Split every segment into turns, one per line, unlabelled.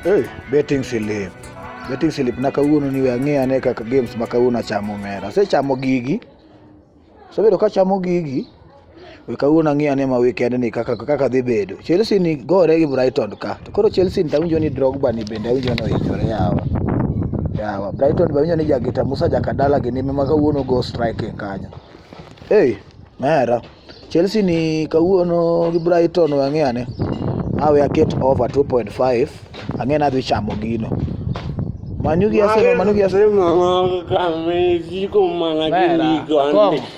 Hey, betting slip. Betting slip na kawuono ni we ang'e ane kaka games ma kawuono achamo omera. Asechamo gigi. Asebedo kachamo gigi. we kawuono ang'e ane ma weekend ni kaka kaka dhi bedo. Chelsea ni gore gi Brighton ka. To koro Chelsea ni tawinjo ni Drogba ni bende awinjo ni ohinyore yawa. Yawa Brighton be awinjo ni jagita Musa Jakadala gi nime ma kawuono go striking kanyo. Hey, mera. Chelsea ni kawuono gi Brighton we ang'e ane. Awe aket over 2.5 ang'e ni adhi chamo gino. Manu gi Arsenal, Manu gi Arsenal. Mera. Kom.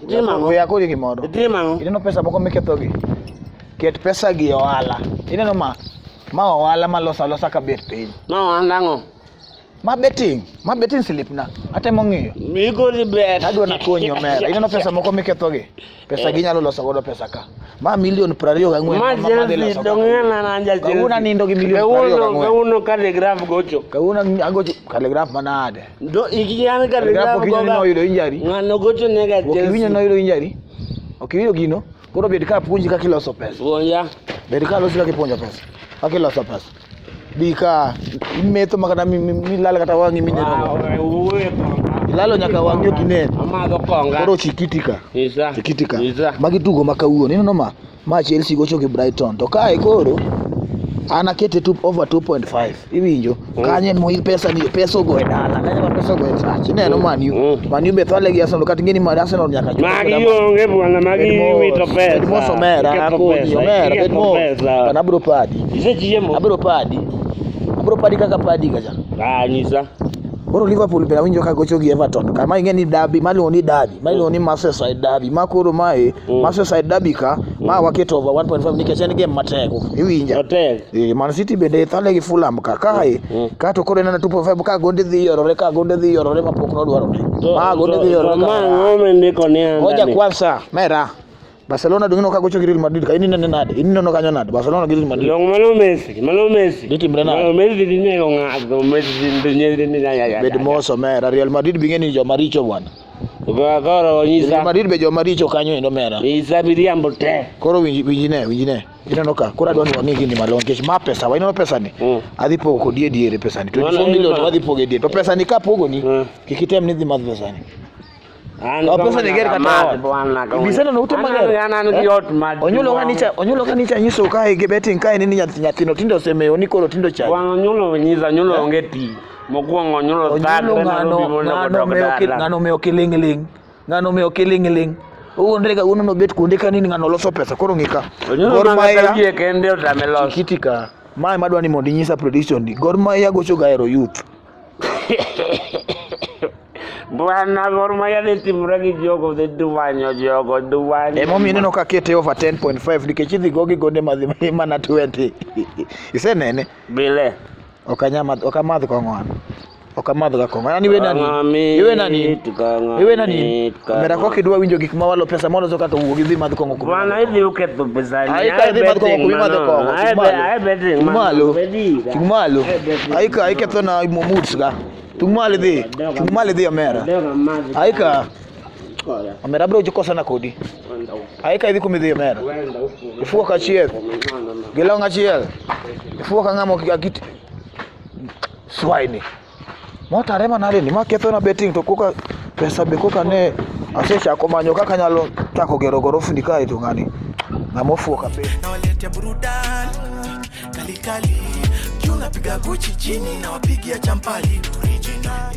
Itimo ang'o? We akori
gimoro. Itimo
ang'o? Ineno pesa moko miketho gi. Ket pesa gi e ohala. Ineno ma ma ohala ma losa losa ka bet piny. Ma ohala ang'o?
Ma
betting, ma betting slip na. Atemo ng'iyo. Migori bet.
Adwa na konyi omera.
Ineno pesa moko miketho gi. Pesa gi nyalo loso godo pesa ka. Ma milion 24 ma ma dhi Majelsi loso. ka.
dong'ena na Kawuono jajelsi. anindo gi milion 24
Kawuono kawuono kalegraf
gocho. Kawuono agocho
kalegraf manade. Do ikiyan
ka le la ko ga. Oyudo injari.
Ngano gocho ne ga
Jesu. Okiwinyo no oyudo injari.
Okiwinyo gino. Koro bed ka puonji kaka iloso pesa. Puonja. Bed ka
losi kaka
ipuonjo pesa. Kaka iloso pesa. Bi ka imetho ma kata milal kata wang'i mineno. Ilalo nyaka wang'i ok inen. Amadho konga. Koro
chikitika.
Isa. Chikitika.
Isa. Magi
tugo ma kawuono. Ineno ma? Ma Chelsea gocho gi Brighton. To kae koro an akete two, over 2.5 iwinjo mm. kanye moil pesa ni pesa ogo e dala kanye ma pesa ogo e church ineno mm. man u mm. man u be thale gi Arsenal kata ngeni mar Arsenal nyaka chuo magi onge bwana
magi wito pesa mo somera
akoni omera bet mo kana bro padi isechiemo abro
padi
abro padi kaka padi kacha ah nyisa
Koro Liverpool
pile awinjo ka gocho gi Everton to kama ing'e ni derby ma luongo ni derby ma luongo ni Merseyside derby ma koro mae mm. Merseyside derby ka ma mm. waketo over 1.5 nikech en game matek iwinja matek eh Man City bende thale gi Fulham ka kae mm. ka to koro nana 2.5 ka gonde dhi yorore ka gonde dhi yorore ma pok nodwaro ne ma gonde dhi yorore ka ma ngome ndiko
ni anda ngoja kwanza mera
Barcelona dong nokago chok Real Madrid ka in inene nade in ineno kanyo nade Barcelona gi Real Madrid long mano Messi
mano Messi dhi timre nade mano Messi
dhi nego ng'ato
Messi dhi nego ni ya ya bed moso mera
Real Madrid binge ni joma richo bwana Koro
nyisa Real Madrid be joma richo
kanyo endo mera nyisa miriambo te
koro winji winji ne
winji ne ineno ka koro adwa ni wang'e gini malong'o nikech ma pesa wa ineno pesa ni mm. adhi pogo kodi e diere pesa ni 24 million wadhi pogo e diere to pesa ni ka pogo ni mm. kik item ni dhi madh pesa ni onyulo kanicha onyulo kanicha nyiso kae gi betting kae ni nyathino tindo osemewo ni koro tindo cha onyulo nyisa onyulo
onge ti mokwongo onyulo thagre ng'ano
ng'ano omewo kiling'ling' ng'ano omewo kiling'ling' uonde ga uno nobet kuonde ka nini ng'ano loso pesa koro ng'ika Gor Mahia
kende otame loso kiti ka mae
madwa ni mondo inyisa prediction di Gor Mahia gocho ga ero youth
Bwana Gor Mahia ni timu rangi jogo dhi duwanyo jogo duwanyo. Ema
omiyo ineno ka kete over 10.5 nikech idhi go gi gonde madhi mana 20. Isenene? Bile.
Ok anyama ok
amadh kong'o an. Ok amadh ga kong'o. An iwe nani? Iwe nani? Iwe nani? Omera kok idwa winjo gik ma walo pesa moloso kaka wuo gi dhi madh kong'o kuma. Bwana hivi uke tu
pesa ni. Aika idhi madh kong'o kuma madh
kong'o. Ae betting man. Malo. Chung malo. Aika aika to na mo moods ga. Chung malo dhi. Chung malo dhi Omera. Aika. Omera bro uko sana kodi. Aika idhi kuma dhi Omera. Ifuko kachiel. Gilonga chiel. Ifuko ngamo kikakiti. Swine. Motare mana ni ma ketho na betting to koka pesa be koka ne asechako manyo kaka nyalo chako gero gorofni kae to ng'ani ng'ama ofuo kabisa. Nawaletea burudani
kali kali, juu napiga Gucci chini, nawapigia champali original